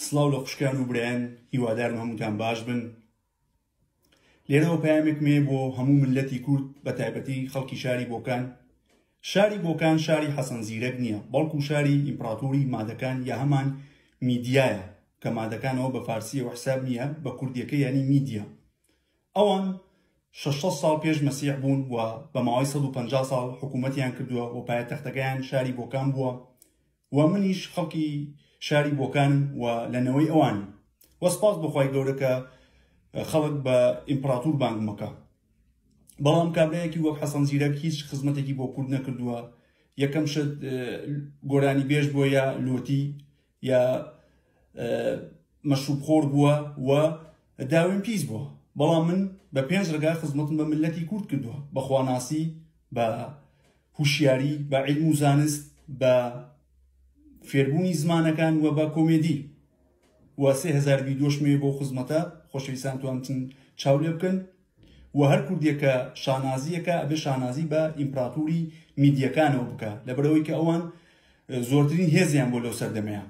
سڵاو لە خوشکان و برایان هیوادارم هەمووتان باش بن لێرەوە پامێک مێ بۆ هەموو ملەتی کورد بە تایبەتی خەڵکی شاری بۆکان شاری بۆکان شاری حەسەن زیرەک نییە بەڵکو شاری ئیمپراتوری مادەکان یا هەمان میدیایە کە مادەکانەوە بە فارسیە وحساب نییە بە کوردیەکە ینی میدیا ئەوان 600 ساڵ پێش مەسیح بوون و بە ماوەی 150 ساڵ حکوومەتیان کردووە و پایە تەختەکەیان شاری بۆکان بووە و منیش خەڵکی شاری بۆکانم و لە نەوەی ئەوانم و سپاس بۆ خوای گەورە کە خەڵک بە ئیمپڕاتور بانگم ئەکا بەڵام کابرایەکی وەک حەسەن زیرەک هیچ خزمەتێکی بۆ کورد نەکردووە یەکەم شت گۆرانی بێژ بووە یا لۆتی یا مەشروب خۆر بووە و داوێن پیس بووە بەڵام من بە پێنج ڕگا خزمەتم بە ملەتی کورد کردووە بەخواناسی بە هوشیاری بە عیلم و زانست بە فێربوونی زمانەکان و بە کۆمێدی و سێ هزار ویدۆش مێ بۆ خزمەتە خۆشەویستان توانتن چاو لێ بکەن و هەر کوردێکە شانازیەکە ئەبێ شانازی بە ئیمپراتوری میدیەکانەوە بکە لەبەرەوەی کە ئەوان زۆرترین هێزیان بۆ لەو سەردەمەیە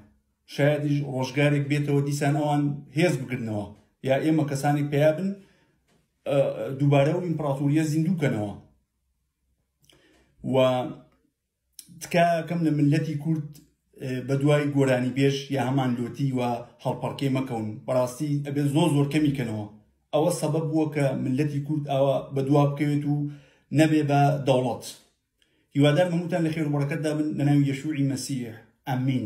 شایدیش ڕۆژگارێک بێتەوە دیسان ئەوان هێز بگرنەوە یا ئێمە کەسانی پیابن دووبارە و ئیمپراتوریە زیندووکەنەوە و تکاکەم لە ملەتی کورد بە دوای گۆرانی بێژ یا هەمان لۆتی و هەڵپەڕکێ مەکەون بەڕاستی ئەبێ زۆر زۆر کەمی کەنەوە ئەوە سەبەب بووە کە ملەتی کورد ئەوە بە دوا بکەوێت و نەبێ بە دەوڵەت هیوادار مەموتان لە خێربڕەکەتدا بن لە ناوی یەشوعی مەسیح ئەمین